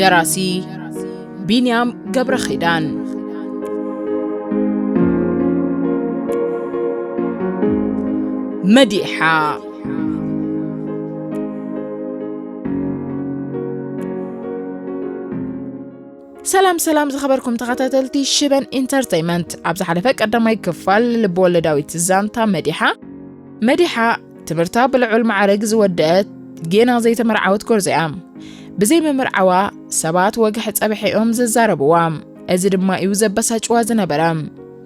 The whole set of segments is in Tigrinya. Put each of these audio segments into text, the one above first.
ደራሲ ቢንያም ገብረ ኺዳን መዲሓ ሰላም ሰላም ዝኸበርኩም ተኸታተልቲ ሽበን ኢንተርተይመንት ኣብ ዝሓለፈ ቀዳማይ ክፋል ልብወለዳዊት ዛንታ መዲሓ መዲሓ ትምህርታ ብልዑል መዓርግ ዝወደአት ጌና ዘይተመርዓወት ጎርዞ እያ ብዘይ ምምርዓዋ ሰባት ወግሒ ጸብሐ እዮም ዝዛረብዋ እዚ ድማ እዩ ዘበሳጭዋ ዝነበረ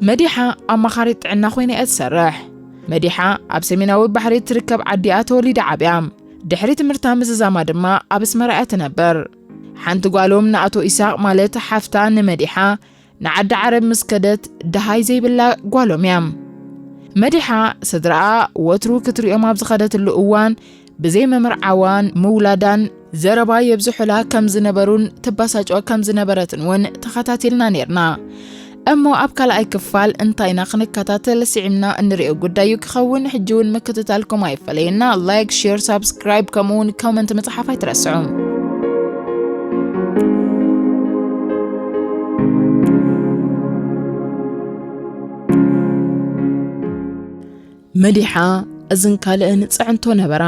መዲሓ ኣማኻሪት ጥዕና ኮይነ እያ ትሰርሕ መዲሓ ኣብ ሰሜናዊ ባሕሪ እትርከብ ዓዲ እያ ተወሊዳ ዓብያ ድሕሪ ትምህርታ ምዝዛማ ድማ ኣብ ኣስመራ እያ ትነብር ሓንቲ ጓሎም ንኣቶ ኢሳቅ ማለት ሓፍታ ንመዲሓ ንዓዲ ዓረብ ምስ ከደት ደሃይ ዘይብላ ጓሎም እያ። መዲሓ ስድራኣ ወትሩ ክትሪኦም ኣብ ዝኸደትሉ እዋን ብዘይ ምምርዓዋን ምውላዳን ዘረባ የብዝሑላ ከም ዝነበሩን ትባሳጮ ከም ዝነበረትን እውን ተኸታቲልና ነርና እሞ ኣብ ካልኣይ ክፋል እንታይና ክንከታተል ስዒምና እንሪኦ ጉዳይ እዩ ክኸውን ሕጂ እውን ምክትታልኩም ኣይፈለየና ላይክ ሼር ሳብስክራይብ ከምኡ እውን ኮመንት ምፅሓፍ ኣይትረስዑ መዲሓ እዝን ካልእን ፅዕንቶ ነበራ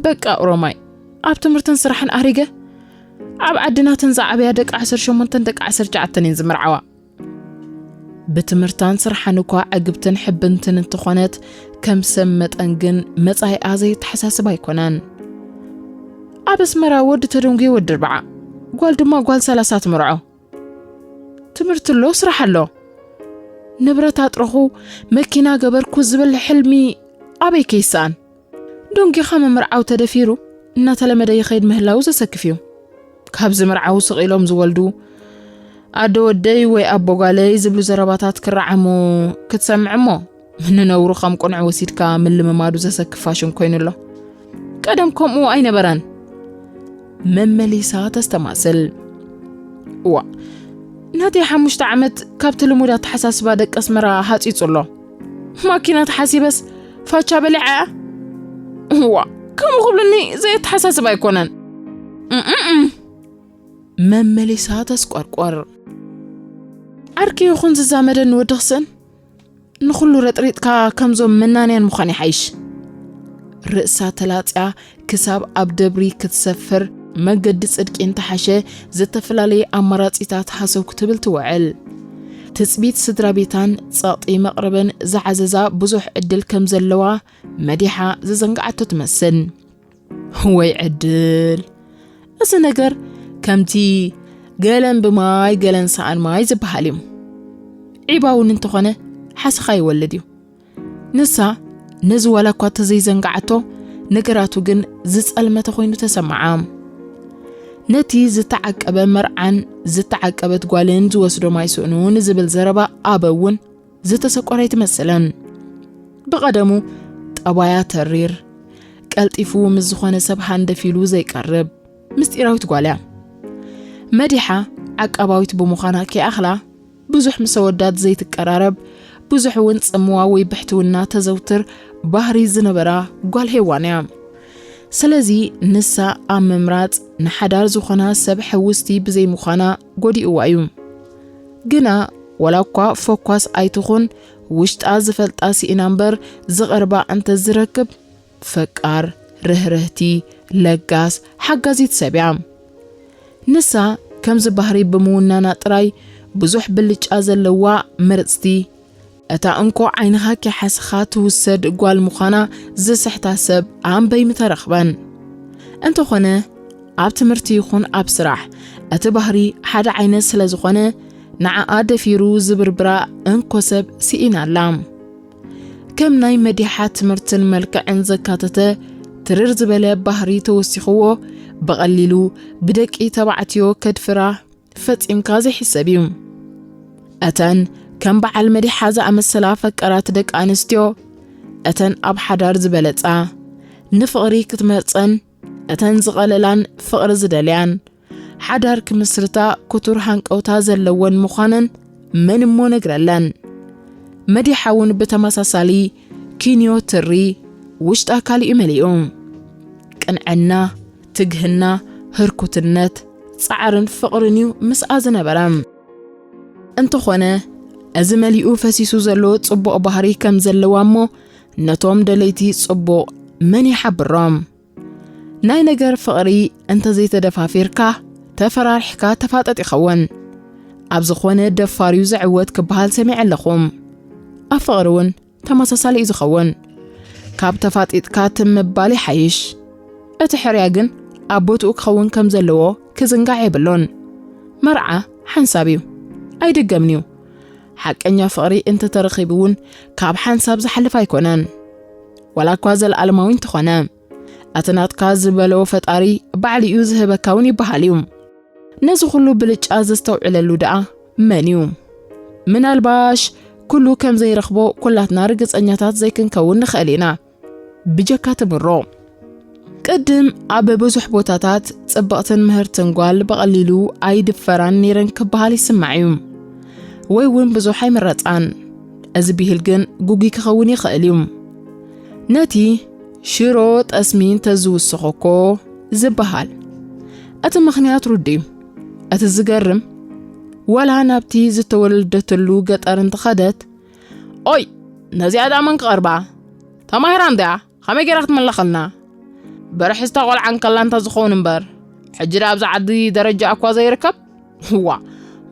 በቃ ኦሮማይ ኣብ ትምህርትን ስራሕን ኣሪገ ኣብ ዓድናትን ዝዓበያ ደቂ 18 ደቂ 19 እየን ዝምርዓዋ ብትምህርታን ስርሓን እኳ ዕግብትን ሕብንትን እንተኾነት ከም ሰብ መጠን ግን መጻኢኣ ዘየተሓሳስብ ኣይኮነን። ኣብ ኣስመራ ወዲ ተደንጉየ ወዲ ርብዓ ጓል ድማ ጓል ሰላሳ ትምርዖ ትምህርቲ ኣሎ ስራሕ ኣሎ ንብረት ኣጥረኹ መኪና ገበርኩ ዝብል ሕልሚ ኣበይ ከይስኣን ዶንጊኻ ምምርዓው ተደፊሩ እናተለመደ ይኸይድ ምህላው ዘሰክፍ እዩ። ካብ ዝምርዓው ስቕ ኢሎም ዝወልዱ ኣደ ወደይ ወይ ኣቦ ጓለይ ዝብሉ ዘረባታት ክረዓሙ ክትሰምዕ እሞ ንነውሩ ከም ቁንዕ ወሲድካ ምልምማዱ ዘሰክፍ ፋሽን ኮይኑ ኣሎ። ቀደም ከምኡ ኣይነበረን። መመሊሳ ተስተማስል ዋ ናተይ ሓሙሽተ ዓመት ካብቲ ልሙድ ኣተሓሳስባ ደቂ ኣስመራ ሃፂፁ ኣሎ ማኪና ተሓሲበስ ፋቻ በሊዓያ እዋ ከምኡ ክብልኒ ዘየተሓሳስብ ኣይኮነን መመሊሳ ተስቆርቆር ዓርኪ ይኹን ዝዛመደኒ ወዲ ክስእን ንኹሉ ረጥሪጥካ ከምዞም መናንያን ምዃን ይሓይሽ ርእሳ ተላፅያ ክሳብ ኣብ ደብሪ ክትሰፍር መገዲ ጽድቂ እንተሓሸ ዝተፈላለየ ኣማራጺታት ሃሰው ክትብል ትውዕል። ትጽቢት ስድራ ቤታን ጸቕጢ መቕርበን ዝዓዘዛ ብዙሕ ዕድል ከም ዘለዋ መዲሓ ዝዘንግዓቶ ትመስል። ወይ ዕድል! እዚ ነገር ከምቲ ገለን ብማይ ገለን ሰኣን ማይ ዝበሃል እዩ። ዒባ እውን እንተኾነ ሓሰኻ ይወልድ እዩ። ንሳ ነዚ ዋላ እኳ ተዘይዘንግዓቶ ነገራቱ ግን ዝጸልመተ ኮይኑ ተሰምዓ። ነቲ ዝተዓቀበ መርዓን ዝተዓቀበት ጓልን ዝወስዶም ኣይስእኑ ንዝብል ዘረባ ኣበ እውን ዝተሰቆረ ኣይትመስልን። ብቐደሙ ጠባያ ተሪር፣ ቀልጢፉ ምስ ዝኾነ ሰብ ሃንደፍ ኢሉ ዘይቀርብ ምስጢራዊት ጓልያ መዲሓ ዓቃባዊት ብምዃና ከይኣኽላ ብዙሕ ምስ ኣወዳት ዘይትቀራረብ፣ ብዙሕ እውን ጽምዋ ወይ ብሕትውና ተዘውትር ባህሪ ዝነበራ ጓል ሄዋን እያ። ስለዚ ንሳ ኣብ ምምራጽ ንሓዳር ዝኾና ሰብ ሕውስቲ ብዘይምዃና ጎዲእዋ እዩ። ግና ዋላ እኳ ፈኳስ ኣይትኹን ውሽጣ ዝፈልጣ ስኢና እምበር ዝቐርባ እንተዝረክብ ፈቃር፣ ርህርህቲ፣ ለጋስ፣ ሓጋዚት ሰብ እያ። ንሳ ከምዚ ባህሪ ብምውናና ጥራይ ብዙሕ ብልጫ ዘለዋ ምርጽቲ፣ እታ እንኮ ዓይንኻ ኪሓስኻ ትውሰድ ጓል ምዃና ዝስሕታ ሰብ ኣምበይ ምተረኽበን። እንተኾነ ኣብ ትምህርቲ ይኹን ኣብ ስራሕ እቲ ባህሪ ሓደ ዓይነት ስለ ዝኾነ ንዓኣ ደፊሩ ዝብርብራ እንኮ ሰብ ስኢና ኣላ። ከም ናይ መዲሓ ትምህርትን መልክዕን ዘካተተ ትርር ዝበለ ባህሪ ተወሲኽዎ ብቐሊሉ ብደቂ ተባዕትዮ ከድፍራ ፈጺምካ ዘይሕሰብ እዩ። እተን ከም በዓል መዲሓ ዝኣመሰላ ፈቀራት ደቂ ኣንስትዮ እተን ኣብ ሓዳር ዝበለጻ ንፍቕሪ ክትመርጸን እተን ዝቐለላን ፍቕሪ ዝደልያን ሓዳር ክምስርታ ክቱር ሃንቀውታ ዘለወን ምዃነን መን እሞ ነግረለን። መዲሓ እውን ብተመሳሳሊ ኪንዮ ትሪ ውሽጣ ካልእዩ መሊኡ። ቅንዕና፣ ትግህና፣ ህርኩትነት፣ ጻዕርን ፍቕርን እዩ ምስኣ ዝነበረ። እንተኾነ እዚ መሊኡ ፈሲሱ ዘሎ ጽቡቕ ባህሪ ከም ዘለዋ እሞ ነቶም ደለይቲ ጽቡቕ መን ይሓብሮም? ናይ ነገር ፍቕሪ እንተዘይተደፋፊርካ ተፈራሪሕካ ተፋጠጥ ይኸውን። ኣብ ዝኾነ ደፋር እዩ ዝዕወት ክበሃል ሰሚዐ ኣለኹም። ኣብ ፍቕሪ እውን ተመሳሳሊ እዩ ዝኸውን። ካብ ተፋጢጥካ ትም ምባል ይሓይሽ። እቲ ሕርያ ግን ኣብ ቦትኡ ክኸውን ከም ዘለዎ ክዝንጋዕ የብሉን። መርዓ ሓንሳብ እዩ፣ ኣይድገምን እዩ። ሓቀኛ ፍቕሪ እንተ ተረኺቡ እውን ካብ ሓንሳብ ዝሓልፍ ኣይኮነን ዋላ እኳ ዘለኣለማዊ እንተኾነ እቲ ናትካ ዝበለዎ ፈጣሪ ባዕሉ እዩ ዝህበካ እውን ይበሃል እዩ ነዚ ኩሉ ብልጫ ዘስተውዕለሉ ደኣ መን እዩ ምናልባሽ ኩሉ ከም ዘይረኽቦ ኩላትና ርግጸኛታት ዘይክንከውን ንኽእል ኢና ብጀካ ትምሮ ቅድም ኣብ ብዙሕ ቦታታት ጽብቕትን ምህርትን ጓል ብቐሊሉ ኣይድፈራን ነይረን ክበሃል ይስማዕ እዩ ወይ እውን ብዙሕ ኣይምረጻን እዚ ብሂል ግን ጉጉይ ክኸውን ይኽእል እዩ ነቲ ሽሮ ጠስሚ እንተዝውስኾ እኮ ዝበሃል እቲ ምኽንያት ርዱ እዩ እቲ ዝገርም ወላ ናብቲ ዝተወለደትሉ ገጠር እንተኸደት ኦይ ነዚኣ ድኣ መን ክቐርባ ተማሂራ እንድያ ከመይ ገይራ ክትምለኸልና በርሕዝታ ቆልዓ እንከላ እንተ ዝኸውን እምበር ሕጂ ድኣ ኣብዛ ዓዲ ደረጃ እኳ ዘይርከብ ዋ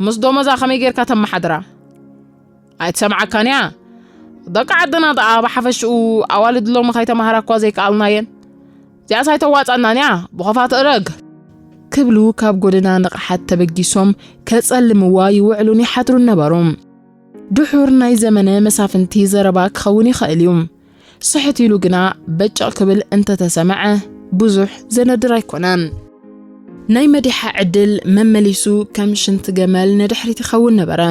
ምስ ዶመዛ ከመይ ጌርካ ተመሓድራ ኣይትሰምዓካን እያ ደቂ ዓድና ደኣ ብሓፈሽኡ ኣዋልድ ሎሚ ከይተማሃራ እኳ ዘይከኣልና እየን እዚኣስ ኣይተዋፅኣናን እያ ብኸፋት እረግ ክብሉ ካብ ጎደና ንቕሓት ተበጊሶም ከጸልምዋ ይውዕሉን ይሓድሩን ነበሩ ድሑር ናይ ዘመነ መሳፍንቲ ዘረባ ክኸውን ይኸእል እዩ። ስሕት ኢሉ ግና በጨቕ ክብል እንተ ተሰምዐ ብዙሕ ዘነድር ኣይኮነን። ናይ መዲሓ ዕድል መመሊሱ ከም ሽንቲ ገመል ንድሕሪት ይኸውን ነበረ።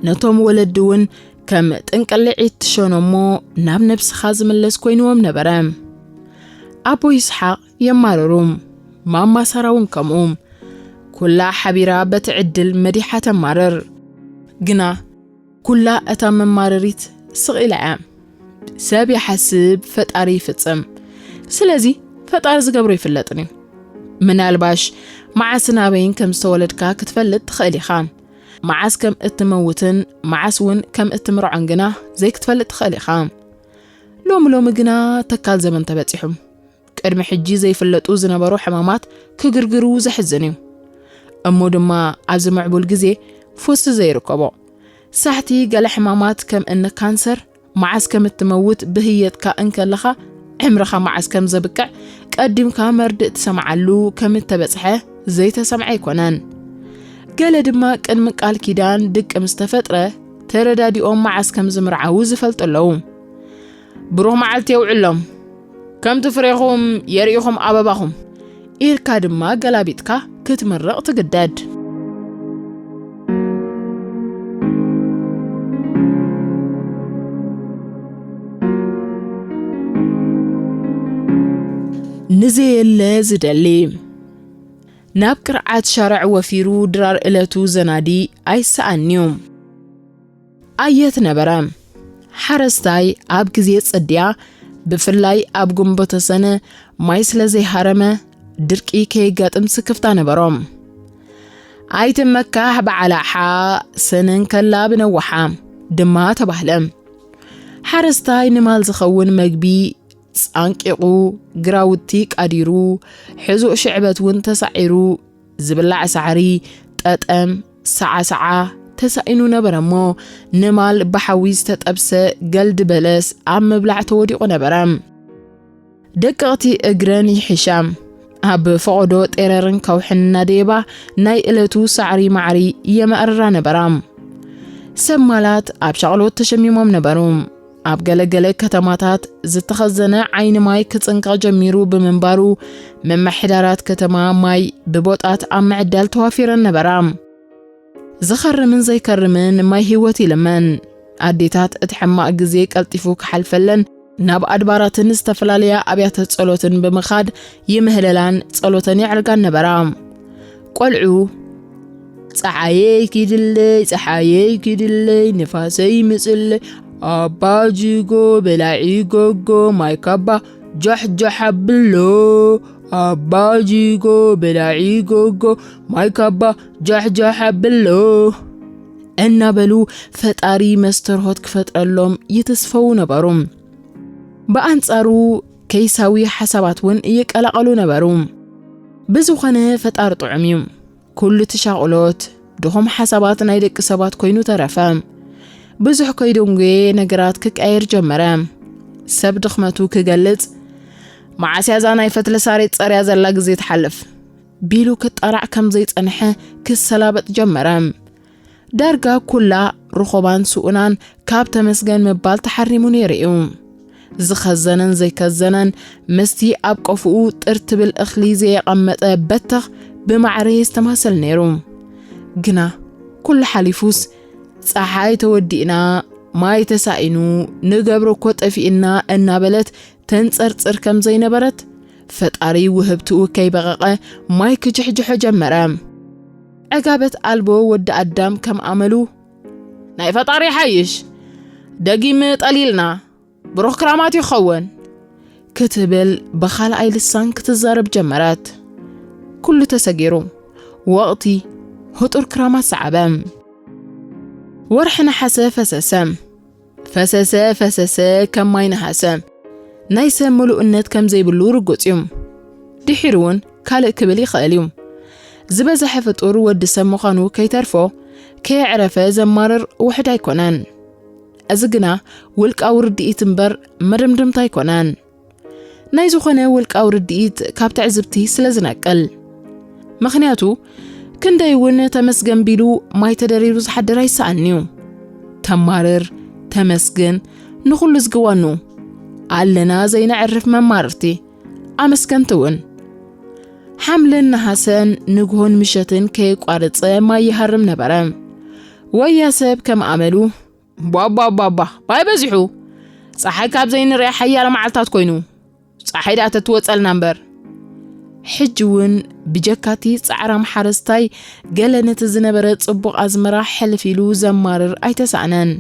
ነቶም ወለዲ እውን ከም ጥንቅልዒት ትሸኖ እሞ ናብ ነብስኻ ዝምለስ ኮይንዎም ነበረ። ኣቦ ይስሓቕ የማርሩ ማማ ሳራ እውን ከምኡ ኩላ ሓቢራ በቲ ዕድል መዲሓ ተማርር ግና ኩላ እታ መማረሪት ስቕ ኢላ እያ ሰብ ይሓስብ ፈጣሪ ይፍጽም ስለዚ ፈጣሪ ዝገብሮ ይፍለጥን እዩ ምናልባሽ መዓስን ኣበይን ከም ዝተወለድካ ክትፈልጥ ትኽእል ኢኻ መዓስ ከም እትመውትን መዓስ እውን ከም እትምርዖን ግና ዘይክትፈልጥ ትኽእል ኢኻ ሎሚ ሎሚ ግና ተካል ዘመን ተበፂሑ ቅድሚ ሕጂ ዘይፍለጡ ዝነበሩ ሕማማት ክግርግሩ ዘሕዝን እዩ። እሞ ድማ ኣብዚ ምዕቡል ግዜ ፉስ ዘይርከቦ ሳሕቲ ገለ ሕማማት ከም እኒ ካንሰር መዓስ ከም እትመውት ብህየትካ እንከለኻ ዕምርኻ መዓስ ከም ዘብቅዕ ቀዲምካ መርድእ ትሰምዓሉ ከም እተበጽሐ ዘይተሰምዐ ኣይኮነን። ገለ ድማ ቅድሚ ቃል ኪዳን ድቂ ምስ ተፈጥረ ተረዳዲኦም መዓስ ከም ዝምርዓዉ ዝፈልጡ ኣለዉ። ብሩህ መዓልቲ የውዕሎም ከምቲ ፍሬኹም የርኢኹም ኣበባኹም ኢልካ ድማ ገላቢጥካ ክትምርቕ ትግደድ ንዘየለ ዝደሊ ናብ ቅርዓት ሻርዕ ወፊሩ ድራር እለቱ ዘናዲ ኣይሰኣንዩ ኣየት ነበረ ሓረስታይ ኣብ ግዜ ጽድያ ብፍላይ ኣብ ግንቦተ ሰነ ማይ ስለ ዘይሃረመ ድርቂ ከየጋጥም ስክፍታ ነበሮም። ኣይትመካሕ በዓላሓ ሰነን ከላ ብነዋሓ ድማ ተባህለ። ሓረስታይ ንማል ዝኸውን መግቢ ጻንቂቑ ግራውቲ ቃዲሩ ሕዙእ ሽዕበት እውን ተሳዒሩ ዝብላዕ ሳዕሪ፣ ጠጠም፣ ሰዓሰዓ፣ ተሳኢኑ ነበረ እሞ፣ ንማል ብሓዊ ዝተጠብሰ ገልዲ በለስ ኣብ ምብላዕ ተወዲቑ ነበረ። ደቀቕቲ እግረን ይሕሻ። ኣብ ፈቐዶ ጤረርን ከውሕን እናደየባ ናይ እለቱ ሳዕሪ ማዕሪ የመዕርራ ነበራ። ሰብ ማላት ኣብ ሻቕሎት ተሸሚሞም ነበሩ። ኣብ ገለ ገለ ከተማታት ዝተኸዘነ ዓይኒ ማይ ክጽንቀቕ ጀሚሩ ብምንባሩ ምምሕዳራት ከተማ ማይ ብቦጣት ኣብ ምዕዳል ተዋፊረን ነበራ። ዝኸርምን ዘይከርምን ማይ ህይወት ይልመን። ኣዴታት እቲ ሕማቕ ግዜ ቀልጢፉ ክሓልፈለን ናብ ኣድባራትን ዝተፈላለያ ኣብያተ ጸሎትን ብምኻድ ይምህለላን ጸሎተን የዕርጋን ነበራ። ቆልዑ ፀዓየይ ኪድለይ ፀሓየይ ኪድለይ ንፋሰይ ምፅለይ ኣባ ጅጎ በላዒ ጎጎ ማይ ካባ ጃሕጃሕ ኣብሎ ኣባ ጅጎ በላዒ ጎጎ ማይ ካባ ጃሕጃሕ ኣብሎ እናበሉ ፈጣሪ መስተርሆት ክፈጥረሎም ይትስፈው ነበሩ። ብኣንጻሩ ከይሳዊ ሓሳባት ውን ይቀላቐሉ ነበሩ። ብዝኾነ ፈጣሪ ጥዑም እዩ። ኩሉ እቲ ሻቕሎት፣ ድኹም ሓሳባት ናይ ደቂ ሰባት ኮይኑ ተረፈ። ብዙሕ ከይደንጎየ ነገራት ክቀየር ጀመረ። ሰብ ድኽመቱ ክገልጽ መዓስ እያ እዛ ናይ ፈትሊ ሳሬት ጸርያ ዘላ ግዜ ትሓልፍ ቢሉ ክጣላዕ ከም ዘይጸንሐ ክሰላበጥ ጀመረ። ዳርጋ ኩላ ርኾባን ስኡናን ካብ ተመስገን ምባል ተሓሪሙ ነይሩ እዩ። ዝኸዘነን ዘይከዘነን ምስቲ ኣብ ቆፍኡ ጥር ትብል እኽሊ ዘየቐመጠ በተኽ ብማዕረ የስተማሰል ነይሩ። ግና ኩሉ ሓሊፉስ ፀሓይ ተወዲእና ማይ ተሳኢኑ ንገብሮ እኮ ጠፊእና እናበለት ተንፀርፅር ከም ዘይነበረት ፈጣሪ ውህብትኡ ከይበቐቐ ማይ ክጅሕጅሖ ጀመረ። ዕጋበት ኣልቦ ወዲ ኣዳም ከም ኣመሉ ናይ ፈጣሪ ይሓይሽ ደጊም ጠሊልና ብሩኽ ክራማት ይኸውን ክትብል ብኻልኣይ ልሳን ክትዛረብ ጀመረት። ኩሉ ተሰጊሩ ወቕቲ ህጡር ክራማት ሰዓበ። ወርሒ ነሓሰ ፈሰሰ። ፈሰሰ ፈሰሰ ከም ማይ ነሃሰ። ናይ ሰብ ምሉእነት ከም ዘይብሉ ርጉጽ እዩ። ድሒሩ እውን ካልእ ክብል ይኽእል እዩ። ዝበዝሐ ፍጡር ወዲ ሰብ ምዃኑ ከይተርፎ ከየዕረፈ ዘማርር ውሕድ ኣይኮነን። እዚ ግና ውልቃዊ ርድኢት እምበር መደምደምታ ኣይኮነን። ናይ ዝኾነ ውልቃዊ ርድኢት ካብ ትዕዝብቲ ስለ ዝነቅል ምኽንያቱ ክንደይ እውን ተመስገን ቢሉ ማይ ተደሪሩ ዝሓድር ኣይሰኣን እዩ ተማርር ተመስግን ንኹሉ ዝግዋኑ ኣለና ዘይነዕርፍ መማርርቲ ኣመስገንቲ እውን ሓምልን ነሃሰን ንግሆን ምሸትን ከየቋርፀ ማይ ይሃርም ነበረ ወያ ሰብ ከም ኣመሉ ቧቧቧቧ ባይ በዚሑ ፀሓይ ካብ ዘይንሪኣ ሓያለ መዓልታት ኮይኑ ፀሓይ ድኣ ተትወፀልና እምበር ሕጂ እውን ብጀካቲ ጻዕራም ሓረስታይ ገለ ነቲ ዝነበረ ጽቡቕ ኣዝመራ ሕልፍ ኢሉ ዘማርር ኣይተሳእነን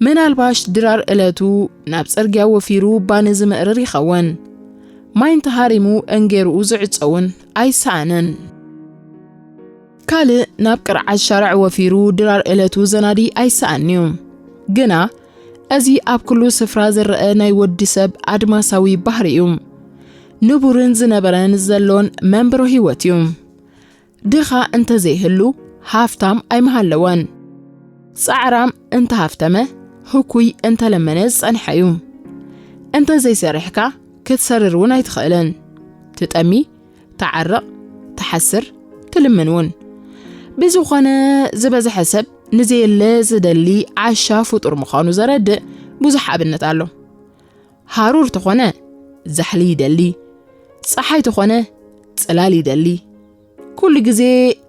ምናልባሽ ድራር እለቱ ናብ ጽርግያ ወፊሩ ባኒ ዝምእርር ይኸውን ማይ እንተሃሪሙ እንጌርኡ ዝዕፀውን ኣይሰኣንን ካልእ ናብ ቅርዓት ሻርዕ ወፊሩ ድራር እለቱ ዘናዲ ኣይሰኣንዩ። ግና እዚ ኣብ ኩሉ ስፍራ ዝረአ ናይ ወዲ ሰብ ኣድማሳዊ ባህሪ እዩ። ንቡርን ዝነበረን ዘሎን መንብሮ ህይወት እዩ። ድኻ እንተ ዘይህሉ ሃፍታም ኣይምሃለወን። ጻዕራም እንተ ሃፍተመ ህኩይ እንተ ለመነ ዝጸንሐ እዩ። እንተ ዘይሰርሕካ ክትሰርር እውን ኣይትኽእልን። ትጠሚ ትዓረቕ፣ ትሓስር፣ ትልምን እውን። ብዝኾነ ዝበዝሐ ሰብ ንዘየለ ዝደሊ ዓሻ ፍጡር ምዃኑ ዘረድእ ብዙሕ ኣብነት ኣሎ። ሃሩር ተኾነ ዛሕሊ ይደሊ፣ ፀሓይ ተኾነ ፅላል ይደሊ፣ ኩሉ ግዜ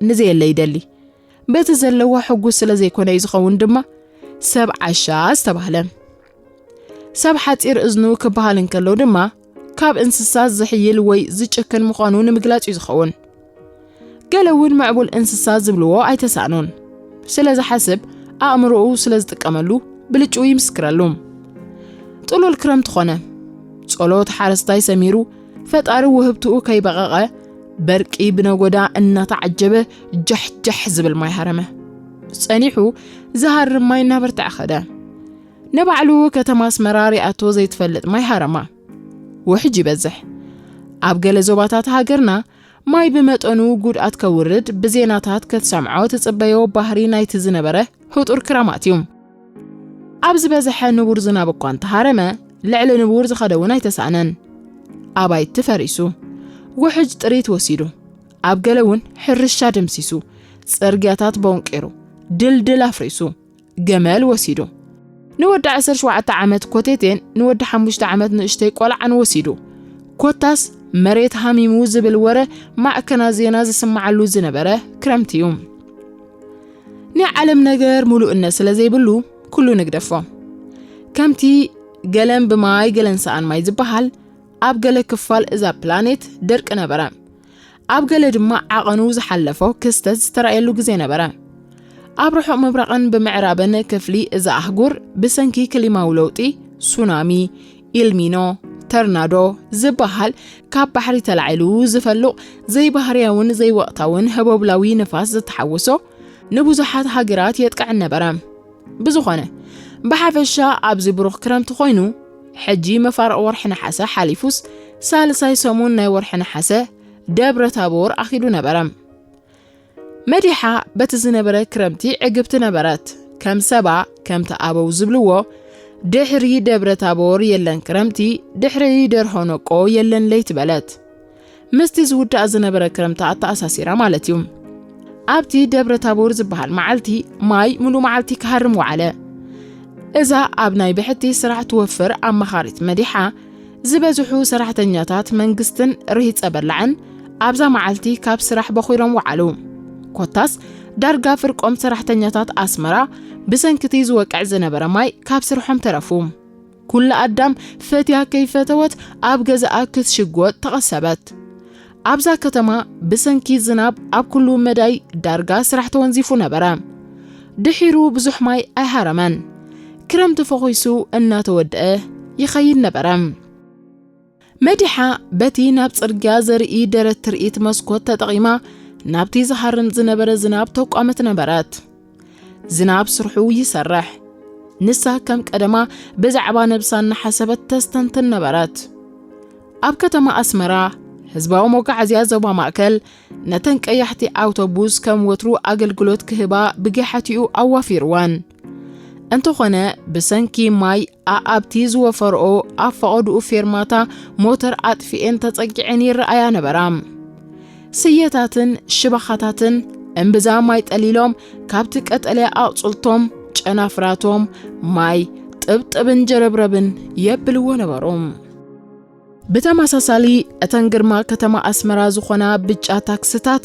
ንዘየለ ይደሊ። በቲ ዘለዋ ሕጉስ ስለ ዘይኮነ እዩ ዝኸውን ድማ ሰብ ዓሻ ዝተባህለ። ሰብ ሓፂር እዝኑ ክበሃል እንከሎ ድማ ካብ እንስሳት ዝሕይል ወይ ዝጭክን ምዃኑ ንምግላፅ እዩ ዝኸውን። ገለ እውን ምዕቡል እንስሳ ዝብልዎ ኣይተሳእኑን። ስለ ዝሓስብ ኣእምሮኡ ስለ ዝጥቀመሉ ብልጭኡ ይምስክረሉ። ጥሉል ክረምቲ ኾነ። ጸሎት ሓረስታይ ሰሚሩ ፈጣሪ ውህብትኡ ከይበቐቐ በርቂ ብነጎዳ እናተዓጀበ ጃሕጃሕ ዝብል ማይ ሃረመ ጸኒሑ ዝሃርም ማይ እናበርትዐ ኸደ ንባዕሉ ከተማ ኣስመራ ሪኣቶ ዘይትፈልጥ ማይ ሃረማ ውሕጅ ይበዝሕ ኣብ ገለ ዞባታት ሃገርና ማይ ብመጠኑ ጉድኣት ከውርድ ብዜናታት ከትሰምዖ ትጽበዮ ባህሪ ናይቲ ዝነበረ ህጡር ክራማት እዩ። ኣብ ዝበዝሐ ንቡር ዝናብ እኳ እንተሃረመ ልዕሊ ንቡር ዝኸደ እውን ኣይተሳእነን። ኣባይቲ ፈሪሱ፣ ውሕጅ ጥሪት ወሲዱ፣ ኣብ ገለ እውን ሕርሻ ደምሲሱ፣ ጽርግያታት ቦንቂሩ፣ ድልድል ኣፍሪሱ፣ ገመል ወሲዱ፣ ንወዲ ዓሰርተ ሸውዓተ ዓመት ኮቴቴን ንወዲ ሓሙሽተ ዓመት ንእሽተይ ቆልዓን ወሲዱ፣ ኮታስ መሬት ሃሚሙ ዝብል ወረ ማዕከናት ዜና ዝስማዓሉ ዝነበረ ክረምቲ እዩ። ናይ ዓለም ነገር ምሉእነት ስለ ዘይብሉ ኩሉ ንግደፎ ከምቲ ገለን ብማይ ገለን ሰኣን ማይ ዝበሃል ኣብ ገለ ክፋል እዛ ፕላኔት ደርቂ ነበረ ኣብ ገለ ድማ ዓቐኑ ዝሓለፎ ክስተት ዝተረእየሉ ግዜ ነበረ ኣብ ርሑቕ ምብራቕን ብምዕራብን ክፍሊ እዛ ኣህጉር ብሰንኪ ክሊማዊ ለውጢ ሱናሚ ኢልሚኖ ተርናዶ ዝበሃል ካብ ባሕሪ ተላዒሉ ዝፈሉቕ ዘይባህርያውን ዘይወቕታውን ህቦብላዊ ንፋስ ዝተሓወሶ ንብዙሓት ሃገራት የጥቅዕ ነበረ ብዝኾነ ብሓፈሻ ኣብዚ ብሩኽ ክረምቲ ኮይኑ ሕጂ መፋርቕ ወርሒ ነሓሰ ሓሊፉስ ሳልሳይ ሰሙን ናይ ወርሒ ነሓሰ ደብረ ታቦር ኣኺሉ ነበረ መዲሓ በቲ ዝነበረ ክረምቲ ዕግብቲ ነበረት። ከም ሰባ ከምቲ ኣበው ዝብልዎ ድሕሪ ደብረ ታቦር የለን ክረምቲ፣ ድሕሪ ደርሆ ነቆ የለን ለይቲ በለት። ምስቲ ዝውዳእ ዝነበረ ክረምቲ ኣተኣሳሲራ ማለት እዩ። ኣብቲ ደብረ ታቦር ዝበሃል መዓልቲ ማይ ሙሉእ መዓልቲ ክሃርም ወዓለ። እዛ ኣብ ናይ ብሕቲ ስራሕ ትወፍር ኣማኻሪት መዲሓ ዝበዝሑ ሰራሕተኛታት መንግስትን ርሂጸ በላዕን ኣብዛ መዓልቲ ካብ ስራሕ በኺሎም ወዓሉ። ኮታስ ዳርጋ ፍርቆም ሰራሕተኛታት ኣስመራ ብሰንኪቲ ዝወቅዕ ዝነበረ ማይ ካብ ስርሖም ተረፉ። ኩላ ኣዳም ፈትያ ከይፈተወት ኣብ ገዛኣ ክትሽጎጥ ተቐሰበት። ኣብዛ ከተማ ብሰንኪ ዝናብ ኣብ ኩሉ መዳይ ዳርጋ ስራሕ ተወንዚፉ ነበረ። ድሒሩ ብዙሕ ማይ ኣይሃረመን። ክረምቲ ፈኹሱ እናተወድአ ይኸይድ ነበረ። መዲሓ በቲ ናብ ጽርግያ ዘርኢ ደረት ትርኢት መስኮት ተጠቒማ ናብቲ ዝሃርም ዝነበረ ዝናብ ተቋመት ነበረት። ዝናብ ስርሑ ይሰርሕ። ንሳ ከም ቀደማ ብዛዕባ ነብሳ እናሓሰበት ተስተንትን ነበረት። ኣብ ከተማ ኣስመራ ህዝባዊ መጓዓዝያ ዞባ ማእከል ነተን ቀያሕቲ ኣውቶቡስ ከም ወትሩ ኣገልግሎት ክህባ ብገሓቲኡ ኣዋፊርወን። እንተኾነ ብሰንኪ ማይ ኣኣብቲ ዝወፈርኦ ኣብ ፈቐድኡ ፌርማታ ሞተር ኣጥፊኤን ተጸጊዐን ይረኣያ ነበራ። ስየታትን ሽባኻታትን እምብዛ ማይ ጠሊሎም ካብቲ ቀጠልያ ኣቕጽልቶም ጨናፍራቶም ማይ ጥብጥብን ጀረብረብን የብልዎ ነበሩ። ብተመሳሳሊ እተን ግርማ ከተማ ኣስመራ ዝኾና ብጫ ታክስታት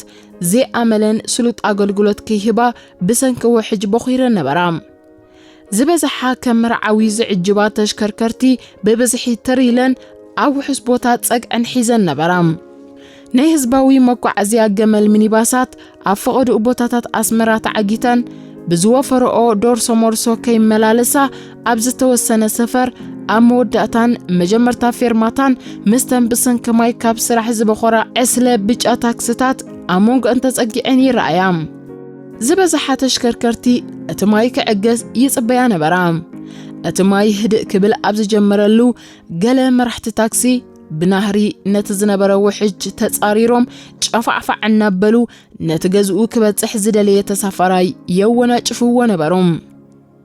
ዘይኣመለን ስሉጥ ኣገልግሎት ክይህባ ብሰንኪ ውሕጅ ቦኺረን ነበራ። ዝበዝሓ ከም መርዓዊ ዝዕጅባ ተሽከርከርቲ ብብዝሒ ትር ኢለን ኣብ ውሑስ ቦታ ጸግዐን ሒዘን ነበራ። ናይ ህዝባዊ መጓዓዝያ ገመል ሚኒባሳት ኣብ ፈቐድኡ ቦታታት ኣስመራ ተዓጊተን ብዝወፈረኦ ዶርሶ ሞርሶ ከይመላለሳ ኣብ ዝተወሰነ ሰፈር ኣብ መወዳእታን መጀመርታ ፌርማታን ምስተን ብሰንኪ ማይ ካብ ስራሕ ዝበኾራ ዕስለ ብጫ ታክስታት ኣብ መንጎ እንተጸጊዐን ይረኣያ። ዝበዝሓ ተሽከርከርቲ እቲ ማይ ክዕገስ ይጽበያ ነበራ። እቲ ማይ ህድእ ክብል ኣብ ዝጀመረሉ ገለ መራሕቲ ታክሲ ብናህሪ ነቲ ዝነበረ ውሕጅ ተጻሪሮም ጨፋዕፋዕ እናበሉ ነቲ ገዝኡ ክበጽሕ ዝደለየ ተሳፋራይ የወናጭፍዎ ነበሮም።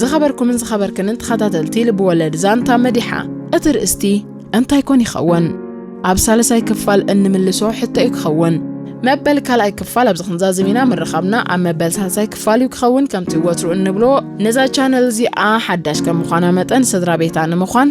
ዝኸበርኩምን ዝኸበርክንን ተኸታተልቲ ልብወለድ ዛንታ መዲሓ እቲ ርእስቲ እንታይ ኮን ይኸውን? ኣብ ሳልሳይ ክፋል እንምልሶ ሕቶ እዩ ክኸውን። መበል ካልኣይ ክፋል ኣብዚ ክንዛዝም ኢና ምርኻብና ኣብ መበል ሳልሳይ ክፋል እዩ ክኸውን ከምቲ ወትሩ እንብሎ ነዛ ቻነል እዚኣ ሓዳሽ ከም ምዃና መጠን ስድራ ቤታ ንምዃን